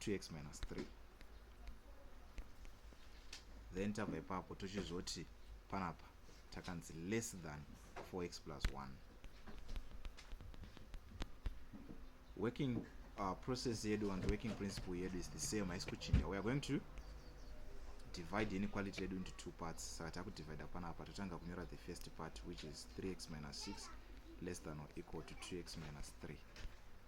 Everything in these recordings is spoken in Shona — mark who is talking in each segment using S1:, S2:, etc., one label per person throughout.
S1: 2x minus 3 then tabva ipapo tochizoti panapa takanzi less than 4x plus 1 working uh, process yedu and working principle yedu is the same haisi kuchinja weare going to divide inequality yedu into two parts saka takudivida panapa totanga kunyora the first part which is 3x minus 6 less than or equal to 2x minus 3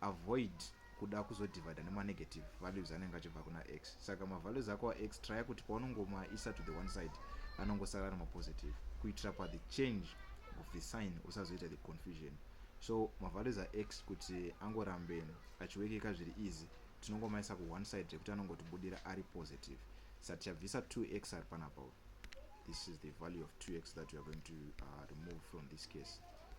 S1: avoid kuda kuzodivider nemanegative values anenge achibva kuna x saka mavalues ako ax trya kuti paunongomaisa to the one side anongosara ari mapositive kuitira pathe change of the sign usazoita the confusion so mavalues ax kuti angorambe achiwekeka zviri easy tinongomaisa kuone side rekuti anongotibudira ari positive sa tichabvisa 2x ari panapa this is the value of 2x that we are going to uh, remove from this case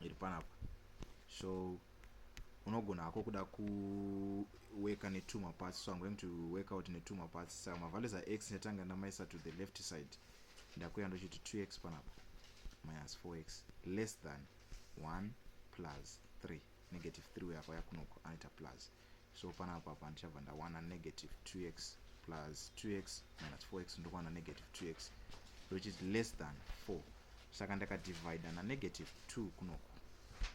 S1: iri panapa so unogona hako kuda kuweka netuma parts so i'm going to work out netuma parts saka mavalues ax netanga ndamaisa to the left side ndakuya ndochiti 2x panapa minus 4x less than 1 plus 3 negative 3 uye apa yakunoko anoita plus so panapa apa ndichabva ndawana negative 2x plus 2x minus 4x ndokuwana negative 2x which is less than 4 saka ndakadivida nanegative 2 kunoku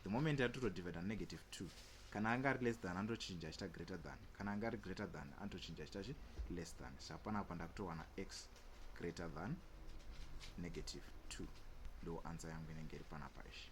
S1: the moment yatotodivida nanegative 2 kana anga ari less than anotochinja achita greater than kana anga ari greater than anotochinja achita chi less than saka panapa ndakutowana x greater than negative 2 ndo ansa yangu inenge iri panapa ishi